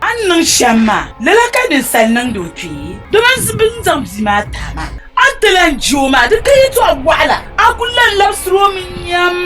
A ni niŋ shɛm maa, lala ka ninsal niŋdi o kpee, dama n zibi n zaŋ bia maa ti a maa. A ni ti lan je o maa, di ka yɛtɔɣ wɔɣila, a ku lan labisir o mi nyam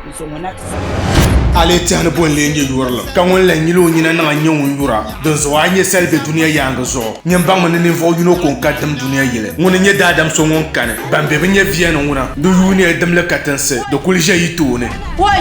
n-zaŋ o na ti sambani. A lee tɛha ni bɔ n-lee nyɛ yurilim, ka ŋun lan nyil o nyina niŋ a nyɛ ŋun yura? Dinzuɣu a nyɛ sal be dunia yaaŋa zuɣu. Nyin baŋmi ni ninvuɣ yino ko n-kani tim dunia yili. Ŋuni n-nyɛ daadam so ŋun kani? Bɛn be bi nyɛviya ni ŋuna. Di yuuniya dimli katinsi, di kul ʒe yi tooni. Bɔy!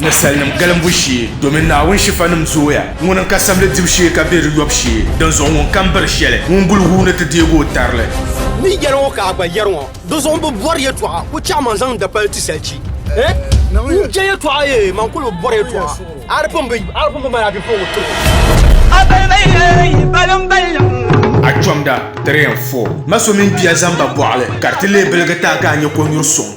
Ninsalinim galimbu shee, domin Naawuni shifanim zooya. Ŋuni n-ka samli dibu shee ka be di yɔbu shee, dinzuɣu ŋun kam biri shɛli, ŋun guli huu ni ti deeg o tarili. Ni yɛli ŋɔ ka a gba yɛri ŋɔ, dinzuɣu m bi bɔri yɛtɔɣa, ku chaɣ man zaŋ n dapali ti salichi. N je yɛtɔɣa ee, man kul bi bɔri yɛtɔɣa, a di pun bi mali a bipuɣiŋgu tiri o. A balibayi lee yi balim balinima. A chomda, 3 and 4, Ma so mini bia zaŋ ba bɔɣili, ka di ti leei biligi taai ka a nya konyuri suŋ.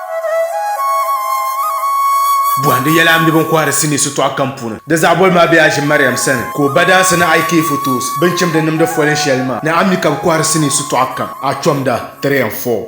Bɔhindi yɛla m bi bini kɔhiri sinii sitɔɣu kam puuni. Di zaɣiboli maa bee a ʒi Mariam sani ka o ba daansi ni a yi kee fotos bini chimdi nimdi foli shɛli maa ni a mi ka bi kɔhiri sinii sitɔɣu kam a chomda 3 and 4.